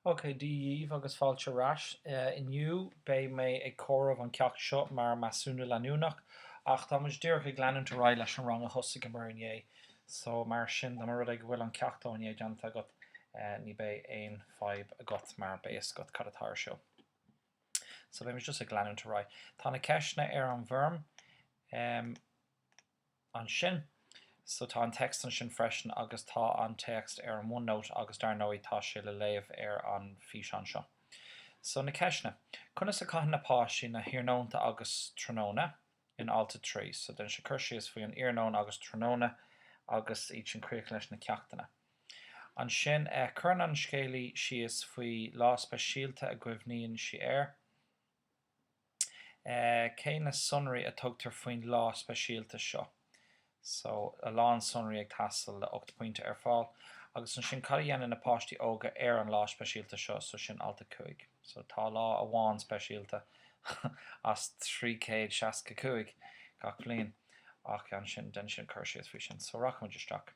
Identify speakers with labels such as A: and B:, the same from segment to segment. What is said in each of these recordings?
A: Ok, Dia dhíbh agus fáilte ar ais. Inniu beidh mé ag comhaireamh an ceacht seo mar measúnú leanúnach ach tá muid díreach ag leanúint ar aghaidh leis an rang a thosaigheamar inné so mar sin dá mba rud é go bhfuil an ceacht ó inné déanta agat ní beidh aon fhadhb agat mar beidh a fhios agat cad atá ar siúl. So beidh muid just ag leanúint ar aghaidh. Tá na ceisteanna ar an bhfoirm. ansin. So tá an téacs ansin freisin agus tá an téacs ar an OneNote agus dar ndóigh tá sé le léamh ar an físeán seo. So na ceisteanna. Conas a chaitheann na páistí na hiarnónta agus tráthnóna in alt a trí? So déanann sé cur síos faoi an iarnóin agus tráthnóna agus iad sin críochnaithe leis na ceachtanna. Ansin chuireann an scéalaí síos faoi lá speisialta a gcuimhníonn sí air. Cé na sonraí a tugtar faoin lá speisialta seo? So, a lán sonraí ag teastáil le 8 pointe ar fáil. Agus ansin, cad a dhéanann na páistí óga ar an lá speisialta seo? So, sin alt a 5. So, tá lá amháin speisialta as 365 gach bliain. Ach ansin, déanann siad cur síos faoi sin. So, rachaimid isteach.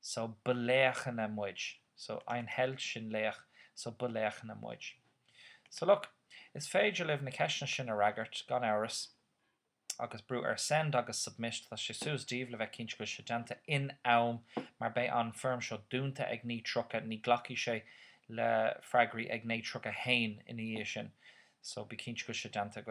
A: so ba laochanna muid. So ein Held sin laoch, so ba laochanna muid. So look, is féidir libh na ceisteanna sin a fhreagairt, gan amhras, agus brú ar Send agus Submit, tá sé suas daoibh le bheith cinnte go bhfuil sé déanta in am mar beidh an foirm seo dúnta ag 09:30, ní ghlacfaidh sé le freagraí ag 09:30 nó ina dhiaidh sin, so bí cinnte go bhfuil sé déanta agaibh.